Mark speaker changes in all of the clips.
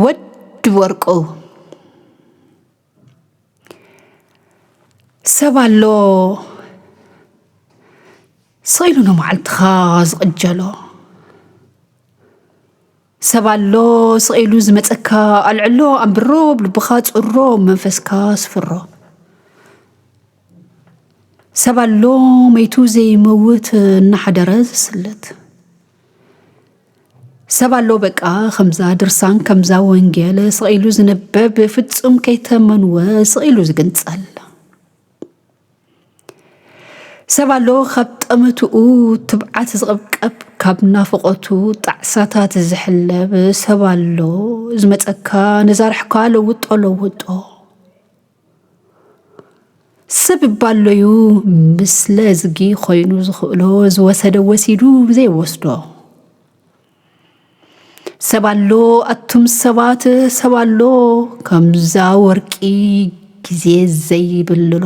Speaker 1: ወድ ወርቁ ሰብ ኣሎ ስኢሉ ንመዓልትኻ ዝቕጀሎ ሰብ ኣሎ ስኢሉ ዝመፀካ ኣልዕሎ ኣንብሮ ብልብኻ ፅሮ መንፈስካ ስፍሮ ሰብ ኣሎ መይቱ ዘይመውት እናሓደረ ዝስለት ሰብ ኣሎ በቃ ከምዛ ድርሳን ከምዛ ወንጌል ስቒሉ ዝንበብ ፍጹም ከይተመንወ ስቒሉ ዝግንጸል ሰብ ኣሎ ካብ ጠመትኡ ትብዓት ዝቕብቀብ ካብ ናፍቖቱ ጣዕሳታት ዝሕለብ ሰብ ኣሎ ዝመፀካ ነዛርሕካ ለውጦ ለውጦ ሰብ ባሎዩ ምስለ ዝጊ ኮይኑ ዝኽእሎ ዝወሰደ ወሲዱ ዘይወስዶ ሰብ ኣሎ ኣቱም ሰባት ሰብ ኣሎ ከምዛ ወርቂ ግዜ ዘይብልሎ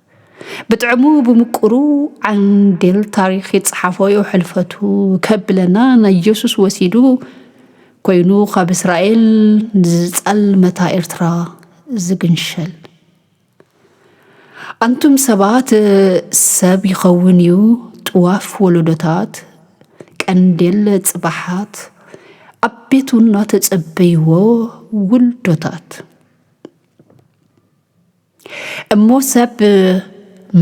Speaker 1: ብጥዕሙ ብምቁሩ ዓንዴል ታሪክ ይጽሓፎዮ ሕልፈቱ ከብለና ናይ ኢየሱስ ወሲዱ ኮይኑ ካብ እስራኤል ንዝጸልመታ ኤርትራ ዝግንሸል ኣንቱም ሰባት ሰብ ይኸውን እዩ ጥዋፍ ወለዶታት ቀንዴል ጽባሓት ኣብ ቤቱ እናተጸበይዎ ውልዶታት እሞ ሰብ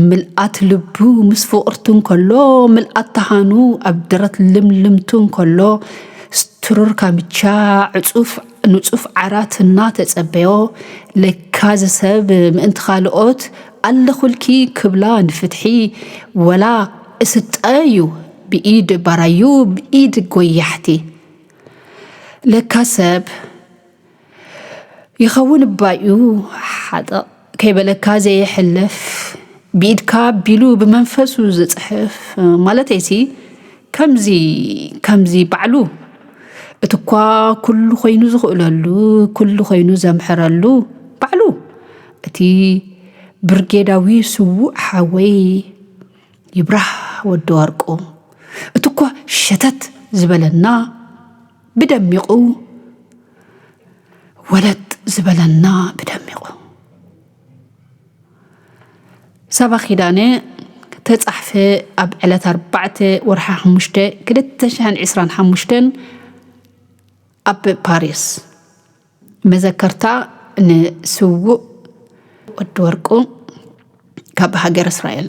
Speaker 1: ምልኣት ልቡ ምስ ፍቕርቱ እንከሎ ምልኣት ተሃኑ ኣብ ደረት ልምልምቱ እንከሎ ስትሩር ካምቻ ዕጹፍ ንጹፍ ዓራት እናተጸበዮ ለካ እዚ ሰብ ምእንቲ ካልኦት ኣለኹልኪ ክብላ ንፍትሒ ወላ እስጠ እዩ ብኢድ ባራዩ ብኢድ ጎያሕቲ ለካ ሰብ ይኸውን እባዩ ሓጠቕ ከይበለካ ዘየሕልፍ ብኢድካ ቢሉ ብመንፈሱ ዝፅሕፍ ማለተይሲ ከምዚ ከምዚ ባዕሉ እቲ እኳ ኩሉ ኮይኑ ዝኽእለሉ ኩሉ ኮይኑ ዘምሕረሉ ባዕሉ እቲ ብርጌዳዊ ስዉእ ሓወይ ይብራህ ወዲ ወርቁ እቲ እኳ ሸተት ዝበለና ብደሚቑ ወለጥ ዝበለና ብደሚቑ ሰባ ኪዳነ ተጻሕፈ ኣብ ዕለት ኣርባዕተ ወርሓ ሓሙሽተ ክልተ ሽሕን ዕስራን ሓሙሽተን ኣብ ፓሪስ መዘከርታ ንስውእ ወዲ ወርቁ ካብ ሃገር እስራኤል